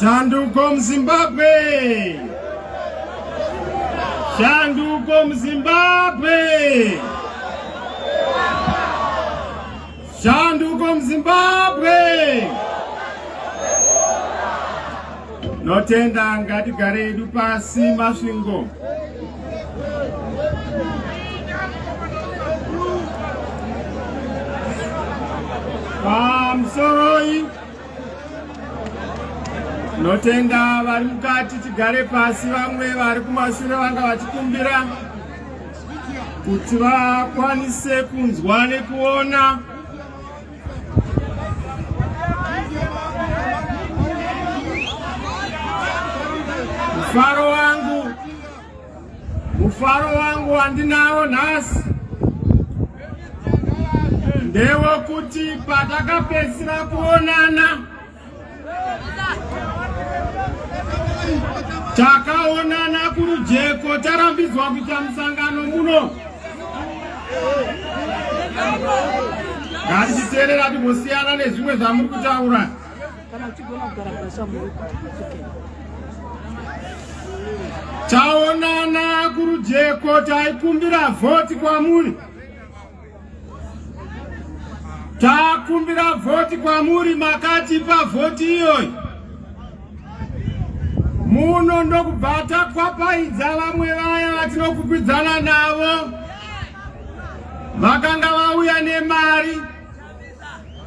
Shanduko muZimbabwe! Shanduko muZimbabwe! Shanduko muZimbabwe! Notenda ngatigare yedu pasi Masvingo. Pamusoro Tinotenda vari mukati, tigare pasi. Vamwe vari kumashure vanga vachikumbira kuti vakwanise kunzwa nekuona mufaro wangu Mufaro wangu wandinawo nhasi ndewokuti patakapedzisira kuonana takaonana kurujeko tarambidzwa kuita musangano muno ngatichiteerera timbosiyana nezvimwe zvamuri kutaura Taonana kurujeko taikumbira vhoti kwamuri. Takumbira vhoti kwamuri makatipa vhoti iyoyi. Muno ndokubva takwapaidza vamwe vaya vatinokwikwidzana navo vakanga vauya nemari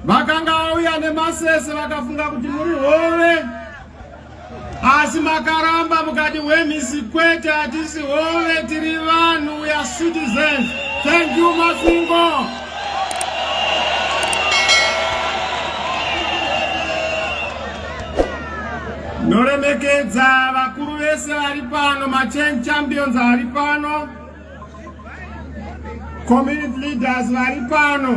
vakanga vauya nemasese vakafunga kuti muri hove asi makaramba mukati wemhisi kwete hatisi hove tiri vanhu weare citizens thank you masingo noremekedza vakuru vese vari pano machan champions ari pano Community leaders vari pano,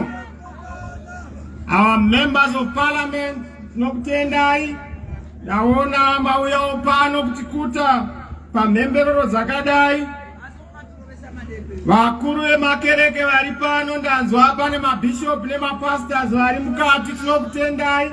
our members of parliament, tinokutendai. Ndaona mauyawo pano kutikuta pamhemberero dzakadai. Vakuru vemakereke vari pano, ndanzwa pane mabishop nemapastors vari mukati, tinokutendai.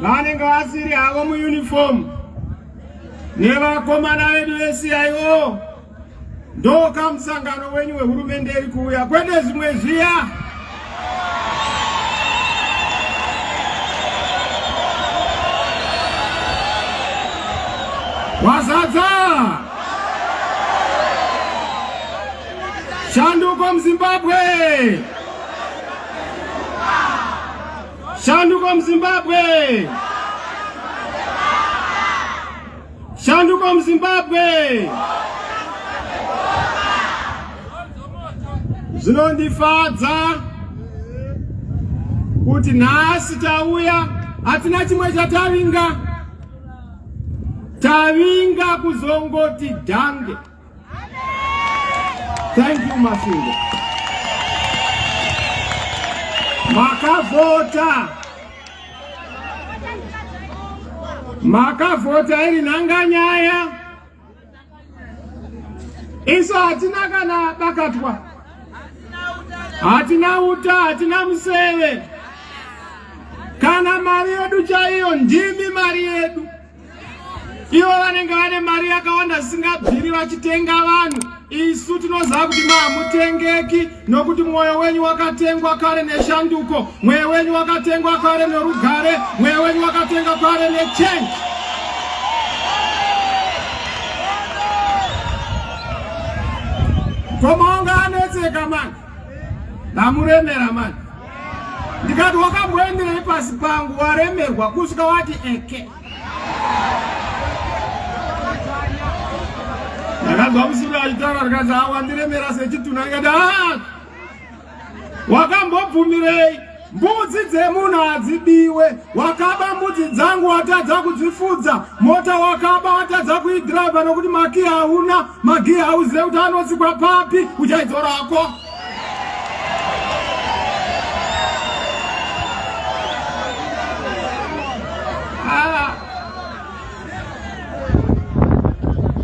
vanenge vasiri havo muuniform nevakomana vedu veCIO ndoka musangano wenyu wehurumende iri kuuya kwete zvimwe zviya wazadza shanduko muzimbabwe Shanduko muZimbabwe! Shanduko muZimbabwe! Zvinondifadza kuti nhasi tauya hatina chimwe chatavinga tavinga kuzongoti dhange Thank you Masingo. Makavota. Makavota iri nanga nyaya. Isu hatina kana bakatwa. Hatina uta, hatina museve. Kana mari yedu chaiyo ndimi mari yedu. ivo vanenge vane mari yakawanda zvisingabviri vachitenga vanhu isu tinoziva kuti mahamutengeki nokuti mwoyo wenyu wakatengwa kare neshanduko mweyo wenyu wakatengwa kare norugare mweyo wenyu wakatengwa kare nechange komaonga anetseka mani ndamuremera mani ndikati wakamboenderei pasi pangu waremerwa kusvika wati eke ndakanzwa musuru achitaura ndikati a wandiremera sechituna ndikati a wakambobvumirei mbudzi dzemunhu hadzibiwe wakaba mbudzi dzangu watadza kudzifudza mota wakaba watadza kuidhiraivha nokuti makiya hauna magiya hauzive kuti anotsikwa papi uchaidzorako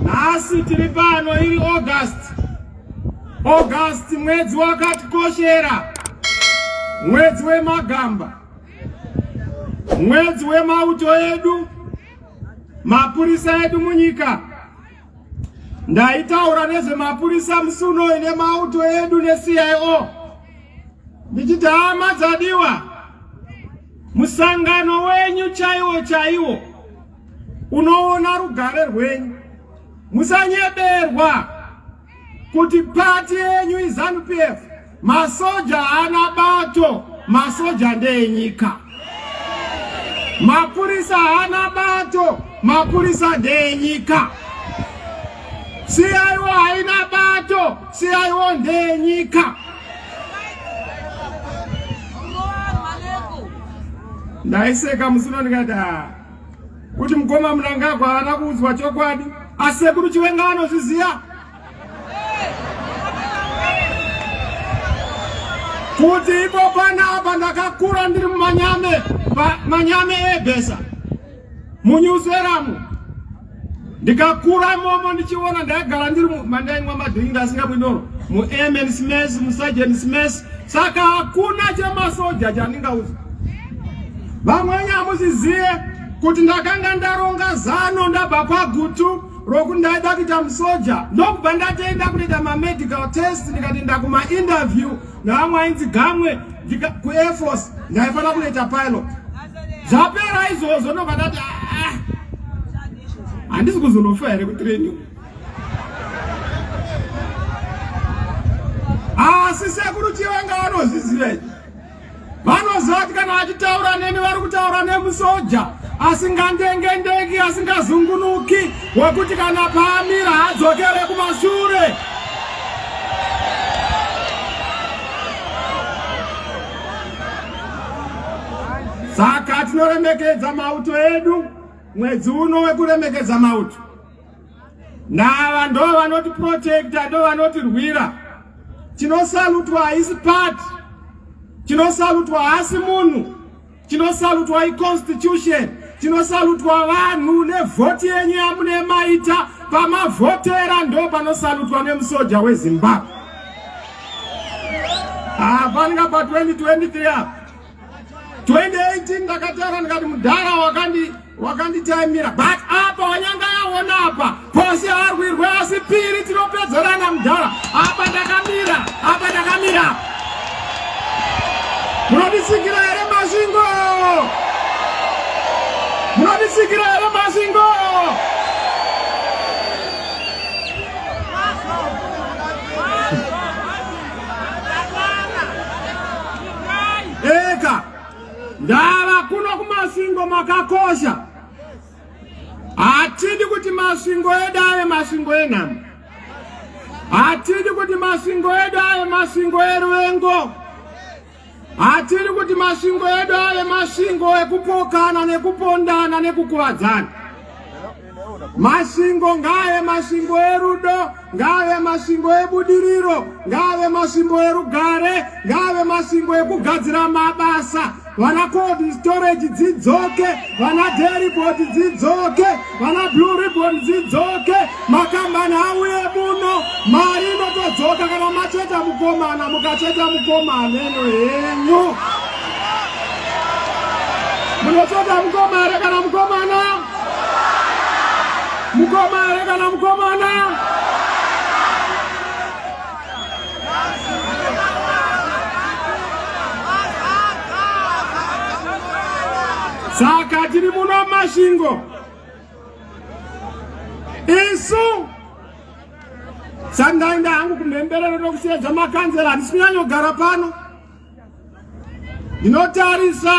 nhasi tiri pano iri august august mwedzi wakatikoshera mwedzi wemagamba mwedzi wemauto edu mapurisa edu munyika Ndaitaura nezvemapurisa musi unoyi nemauto edu neCIO ndichiti hama dzadiwa, musangano wenyu chaiwo chaiwo unoona rugare rwenyu, musanyeberwa. kuti pati yenyu izanu pf masoja haana bato masoja ndeyenyika mapurisa haana bato mapurisa ndeyenyika siyaiwo haina bato siyaiwo ndeyenyika ndaiseka musino ndikati kuti mukoma Mnangagwa haana kuudzwa chokwadi asi sekuru Chiwenga anozviziva kuti ipo panapa ndakakura ndiri mumanyame manyame ebhesa munyuzeramu ndikakura momo ndichiona ndaigara ndiri mandaimwa madhiri ndasinga mwinoro muamen smes musajen smes saka hakuna chemasoja chandingauza vamwe nyamuziziye kuti ndakanga ndaronga zano ndabva kwagutu rokuti ndaida kuita musoja ndokubva ndatoenda kunoita mamedical test ndikatoenda kumainterview navamwe ainzi gamwe kuairforce ndaifanira kunoita pilot zvapera izvozvo ndobva ndati ah, ah. handisi kuzonofa here kutraining asi sekuru chivanga vanozviziva izvi vanoziva kuti kana vachitaura neni vari kutaura nemusoja asingandengendeki asingazungunuki wekuti kana paamira hadzokere kumashure Saka tinoremekedza mauto edu mwedzi uno wekuremekedza mauto. Nava ndo vanoti protecta ndo vanoti rwira. Tinosalutwa haisi part. Tinosalutwa haasi munhu. Tinosalutwa iconstitution. Tinosalutwa vanhu nevhoti yenyu yamunemaita pamavhotera ndo panosalutwa nemusoja weZimbabwe. hapana ah, pa 2023 apa 2018 ndakataura ndikati mudhara wakandi wakanditaimira but apa wanyanga yaona apa pose arwirwe asi piri tinopedzerana mudhara apa ndakamira apa ndakamira munodisikira here masvingo munodisikira here masvingo eka ndava kuno kumasvingo makakosha hatidi kuti masvingo edu ave masvingo enhamo hatidi kuti masvingo edu ave masvingo eruvengo Hatiri kuti masvingo edu ave masvingo ekupokana nekupondana nekukuvadzana. Masvingo ngaave masvingo erudo, ngaave masvingo ebudiriro, ngaave masvingo erugare, ngaave masvingo ekugadzira mabasa. Vana cold storage dzidzoke, vana dairy board dzidzoke. Vana Blue Ribbon dzidzoke, makambani auye muno, mari inotodzoka kana macheta mukomana, mukacheta mukomana eno henyu. Munocheta mukomana kana mukomana? Mukomana kana mukomana? saka tiri muno masvingo isu sandaenda hangu kumhemberero nokusiya dzamakanzera handisi kunyanyogara pano ndinotarisa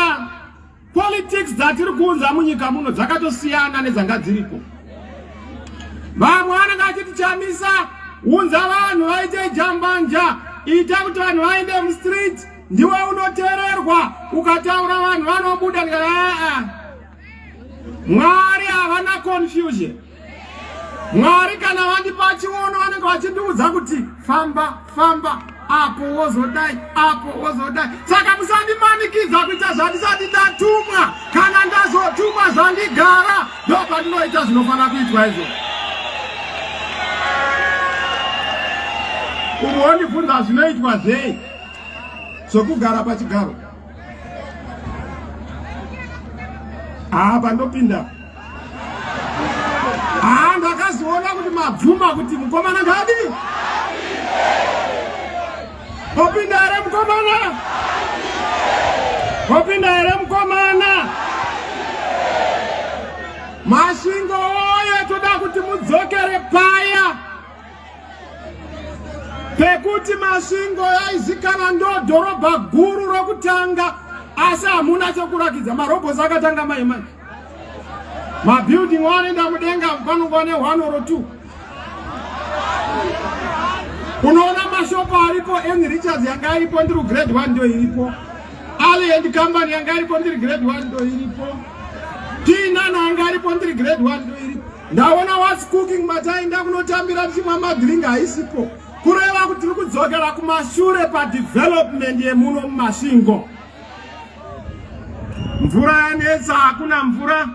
Politics dzatiri kuunza munyika muno dzakatosiyana nedzanga dziriko. Vamwe anenge achiti chamisa unza vanhu vaite jambanja ita kuti vanhu vaende mustreet ndiwe unotererwa ukataura vanhu vanobuda aa mwari havana confusion Mwari kana vandipa chiono vanenge vachindiudza kuti famba famba apo wozodai apo wozodai saka musandimanikidza kuita zvandisati ndatumwa kana ndazotumwa zvandigara ndo pandinoita zvinofanira kuitwa izvo umwe wondibvunza zvinoitwa zvei zvokugara pachigaro haa pandopinda haa ndakazoona kuti mabvuma kuti mukomana ngadi opinda here mukomana opinda here mukomana masvingo oye toda kuti mudzokere paya pekuti masvingo yaizikana ndo dhorobha guru rokutanga asi hamuna chokurakidza marobhosi akatanga mai mai mabuilding wanoenda mudenga panongwa ne one or two unoona mashopo aripo en richards yanga iripo ndiri grade one ndo iripo ali and company yanga iripo ndiri grade one ndo iripo tinana yanga iripo ndiri grade one ndo iripo Ndaona was cooking mataenda kunotambira tichimwa madrink haisipo kureva kuti tiri kudzokera kumashure padevelopment yemuno mumasvingo mvura yanetsa hakuna mvura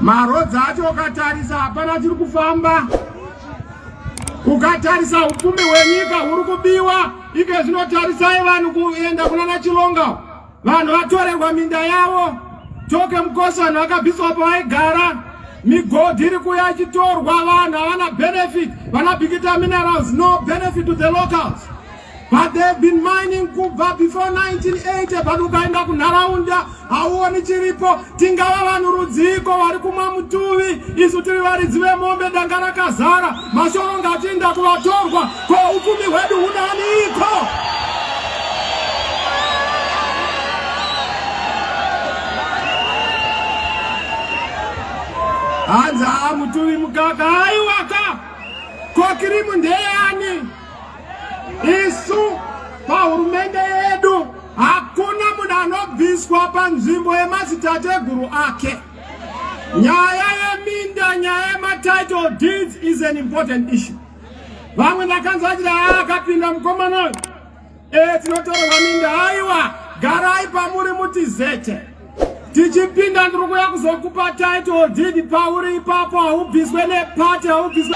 marodzi acho ukatarisa hapana chiri kufamba ukatarisa upfumi hwenyika huri kubiwa ike zvinotarisai vanhu kuenda kunana chilonga Vanhu vatorerwa minda yavo, Toke Mkosi vanhu vakabviswa pavaigara, migodhi iri kuya ichitorwa, vanhu havana benefit, vana Bikita Minerals no benefit to the locals. But they've been mining kubva before 1980 but ukaenda kunharaunda hauoni chiripo. Tingava vanhu rudziiko vari kumwa mutuvi, isu tiri varidzi vemombe, danga rakazara, mashoro ngachiinda kuvatorwa, ko upfumi hwedu hunaniko? Hanzi haa mutuvi mukaka, haiwaka, ko kirimu ndeyani? Isu pahurumende yedu hakuna munhu anobviswa panzvimbo yemadzitateguru ake. Nyaya yeminda, nyaya yematitle deeds is an important issue. Vamwe ndakanzwa vachiti haa akapinda mukomana uyu e tinotorerwa minda. Haiwa, garai pamuri mutizete. Tichipinda ndiri kuya kuzokupa title deed pauri ipapo, haubviswe nepati, haubviswe